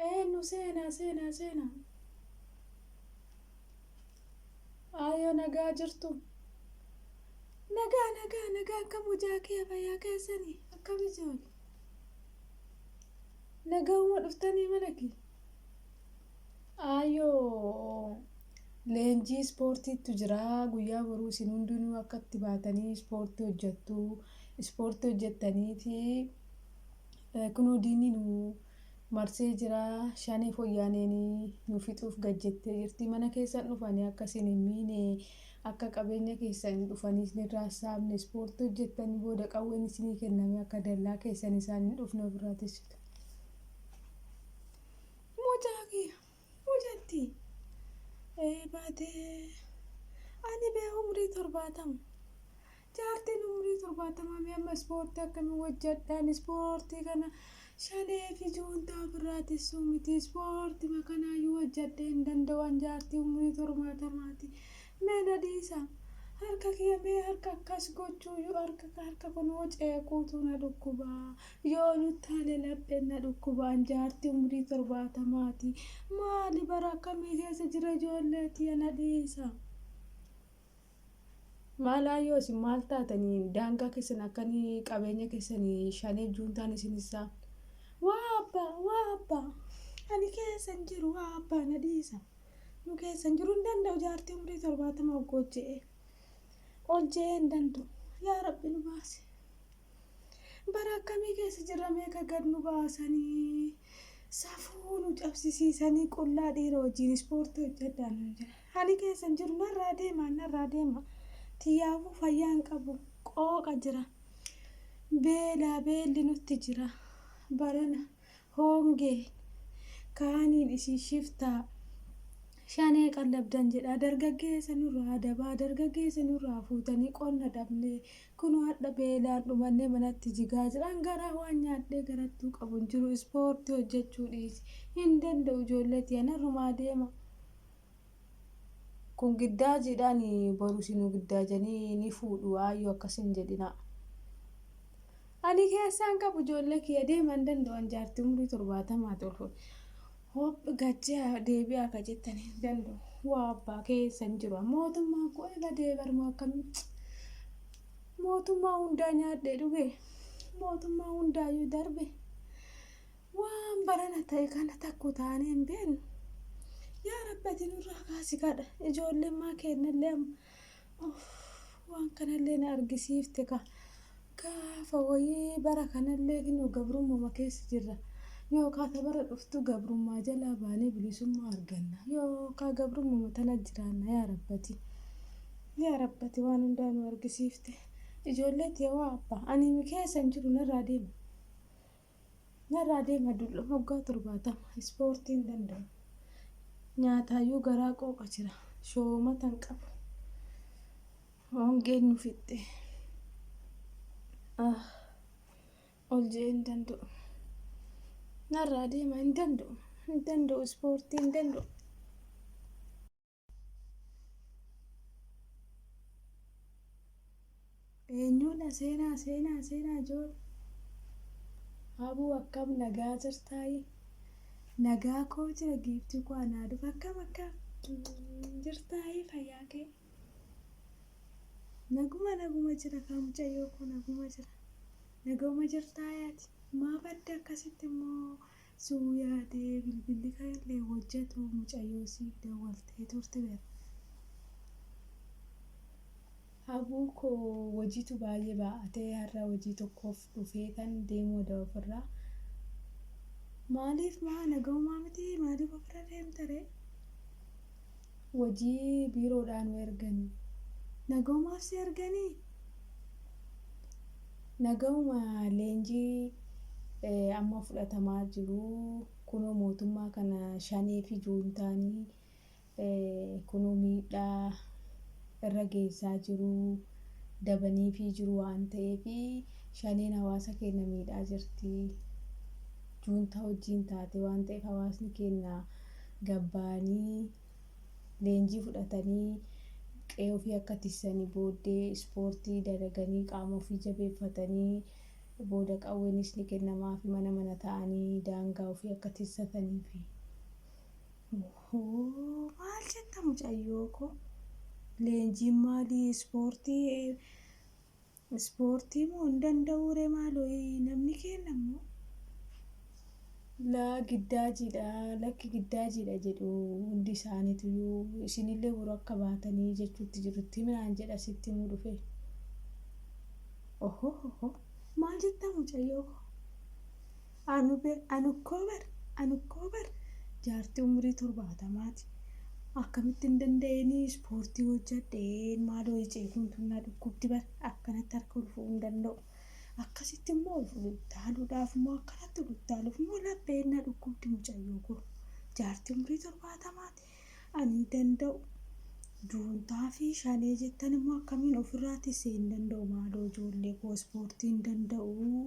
Eenyu seenaa seenaa seenaa. Aayoo nagaa jirtu. Nagaa nagaa nagaa akkam hojaa kee fayyaa keessanii akkam ijoole. Nagauma dhuftanii mana kee. Aayoo leenjii ispoortiitu jira guyyaa boruu isin hundinuu akka itti baatanii ispoortii hojjettu ispoortii hojjettaniiti Kunoo diinni nu marsee jira, shanee foyyaaneen nu fixuuf gad jettee jirti. Mana keessan dhufanii akka isin hin miine, akka qabeenya keessan dhufanii isinirraa hin saamne, ispoortii hojjettanii booda qawween isinii kennamee akka dallaa keessan isaan hin dhufne ofirraa tiksitu. Mucaa kiyya, mucatti baatee ani bee umrii torbaatama. Jaartiin umrii 70 mee amma ispoortii akkamiin hojjadhaan ispoortii kana shanee fi juuntaa ofirraa tissuu miti ispoortima kanaayyuu hojjadhee hin danda'uan jaartii umrii 70ti mee na dhiisa harka kiyya mee harka akkas gochuuyyuu harka harka kunoo ceequutu na dhukkuba yoo nuttaale lapheen na dhukkuba an jaartii umrii 70ti maali bara akkamii keessa jira ijoolleetiya na dhiisa. Maal ayyoo isin maal taatanii daangaa keessan akkanii qabeenya keessanii shanee juuntaan isin isaa waa abbaa waa abbaa ani keessan jiru waa abbaa na dhiisa nu keessan jiru hin danda'u jaartii umrii torbaatama oggu hojje'ee hojje'ee hin danda'u yaa rabbi nu baase bara akkamii keessa jirra meeqa gad nu baasanii safuu nu cabsisiisanii qullaa dhiira wajjin ispoortii hojjedhaa nuun jedha. Ani keessa hin jiru narraa deemaa narraa deemaa tiyyaafuu fayyaa hin qabu qooqa jira beelaa beelli nutti jira barana hoongeen kaaniin isin shiftaa shanee qallabdan jedha dargaggeessa nurraa dabaa dargaggeessa nurraa fuutanii qonna dhabnee kunoo hadha beelaan dhumannee manatti jigaa jiran garaa waan nyaadhee garattuu qabu hin jiru ispoortii hojjechuu dhiisi hin danda'u ijoollee tiya narrumaa deema Kun giddaa jiidhaani boru sinu giddaa jani ni fuudhu aayyu akkas hin jedhinaa. Ani keessaan qabu ijoollee kiyya deeman danda'u an jaartii umurii torbaatamaa ta'u kun hoph gachee deebi'aa akka jettan hin danda'u waa abbaa keessa hin jiru mootummaan koo ila deebarma akkamii mootummaa hundaa nyaadhee dhuge mootummaa hundaayyuu darbe Waan barana ta'e kana takku taanee hin beeknu. Yaa Rabbi ati nurraa kaasi kadha. Ijoolleen maa keennallee amma. Uff, waan kanallee na argisiifte ka. Gaafa wayii bara kanallee kinoo gabrummuma keessa jirra. Yookaa ta bara dhuftu gabrummaa jalaa baanee bilisummaa arganna. Yookaa gabrummuma tana jiraanna yaa Rabbati. Yaa Rabbati waan hundaa nu argisiifte. Ijoollee tiyawaa abbaa. Ani mi keessa hin jiru narraa deema. Narraa deema dulloon hoggaa torbaatama ispoortiin danda'u nyaataayyuu garaa qooqa jira shoomata hin qabu hongeen nu fixxe ah ol je'ee hin danda'u narraa deema hin danda'u hin danda'u ispoortii hin danda'u. Eenyuudha seenaa seenaa seenaa joor Abuu akkam nagaa jirtaayi nagaa koo jira giiftii koo anaa dhufa akkam akkam jirtaayi fayyaa kee naguma naguma jira kaa mucayyoo koo naguma jira naguma jirtaayaati maaf adda akkasitti immoo Suu yaade bilbilli kan illee hojjatu mucayyoo siif dawwaltee turte ber. Abuu koo wojitu baayee baa'atee harra wojii tokkof dhufeetan deemu oda ofirra Maaliif maa nagahumaa mitii maaliif ofirra deemta ree. wajii biiroodhaa nu erganii. Nagaumaaf si erganii? Nagauma leenjii amma fudhatamaa jiru kunoo mootummaa kana shanee fi juuntaanii kunoo miidhaa irra geessaa jiru dabaniifii jiru waan ta'eef shaneen hawaasa keenya miidhaa jirti juuntaa wajjiin taate waan ta'eef hawaasni keenya gabbaanii leenjii fudhatanii qe'ee ofii akka tissanii booddee ispoortii dalaganii qaama ofii jabeeffatanii booda qawweenis ni kennamaafi mana mana ta'anii daangaa ofii akka tissataniifi. Hoo maal jetta mucayyoo koo? Leenjiin maalii ispoortii Ispoortii moo hin danda'uu ree maaloo namni keenna immoo. Laa giddaajiidha lakki giddaajiidha jedhu hundi isaanituyuu isinillee boru akka baatanii jechuutti jiru itti himi naan jedha sitti himuu dhufe ohohoho maal jettaa mucayyoo koo. Anu be anukkoo bar anukkoo bar jaartii umurii torbaatamaati akkamitti hin danda'ini ispoortii hojjadheen maaloo icee kun tun na dhukkubdi bar akkanatti harka ol fu'uu hin danda'u akkasitti immoo ol fuduttaaluudhaaf immoo akkanatti ol uttaaluuf immoo lapheen na dhukkubdi mucayyoo koo jaartii umurii torbaatamaati ani hin danda'u juuntaa fi shanee jettan immoo akkamiin ofirraa tissee hin danda'u maaloo ijoollee koo ispoortii hin danda'u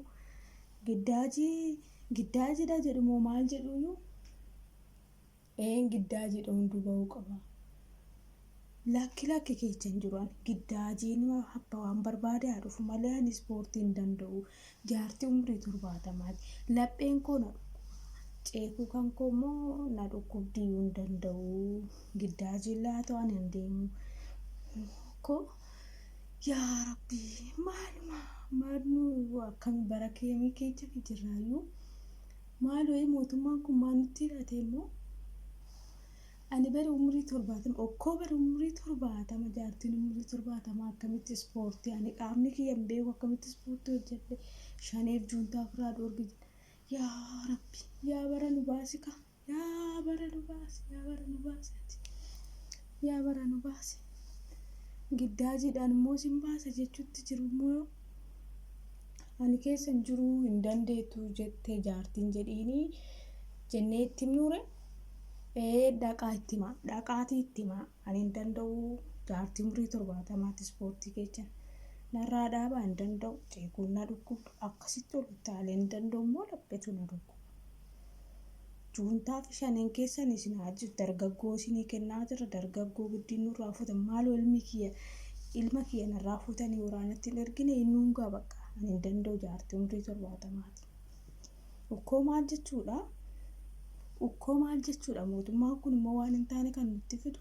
Giddaaji Giddaajidha jedhu moo maal jedhuuyuu? Een Giddaajidha hunduu ba'uu qaba. Lakki lakki keecha hin jiru ani. Giddaajiin abba waan barbaade haa dhufu malee ani ispoortii hin danda'u. Jaartii umrii torbaatamaati. Lapheen koo na dhukkuba. Ceekuu kan koo immoo na dhukkubdiyyuu hin danda'u. Giddaajiin laatoo ani hin deemu. Ko yaa rabbii maaluma maalnu akkami bara keemii keecha fi jirraayyuu maaloo mootummaan kun maal nutti hidhate immoo ani bara umrii torbaatama okkoo bara umrii torbaatama jaartiin umrii torbaatama akkamitti ispoortii ani qaamni kiyya hin beeku akkamitti ispoortii hojjedhe shaneef juuntaa firaa dhoorgi yaa rabbi yaa bara nu baasika Yaa bara nu baasi yaa bara nu baasi ati yaa bara nu baasi giddaajiidhaan immoo sin baasa jechuutti jiru immoo ani keessa hin jiru hin dandeettu jette jaartiin jedhiini jennee itti himnuure ee dhaqaa itti himaa dhaqaatii itti himaa ani hin danda'u jaartii umrii torbaatamaatti ispoortii keechan narraa dhaabaa hin danda'u ceekuun na dhukkuba akkasitti ol utaalee hin danda'u immoo laphetu na dhukkuba. Juuntaa fi shaneen keessan isin haa ajjeesu. Dargaggoo isinii kennaa jirra. Dargaggoo giddiin nurraa fuutan. Maaloo ilmi kiyya ilma kiyya narraa fuutanii waraanatti hin ergine inni hungaa bakka ani hin danda'u jaartii umrii torbaatamaati. Ukkoo maal jechuudha? Ukkoo maal jechuudha? Mootummaan kun immoo waan hin taane kan nutti fidu.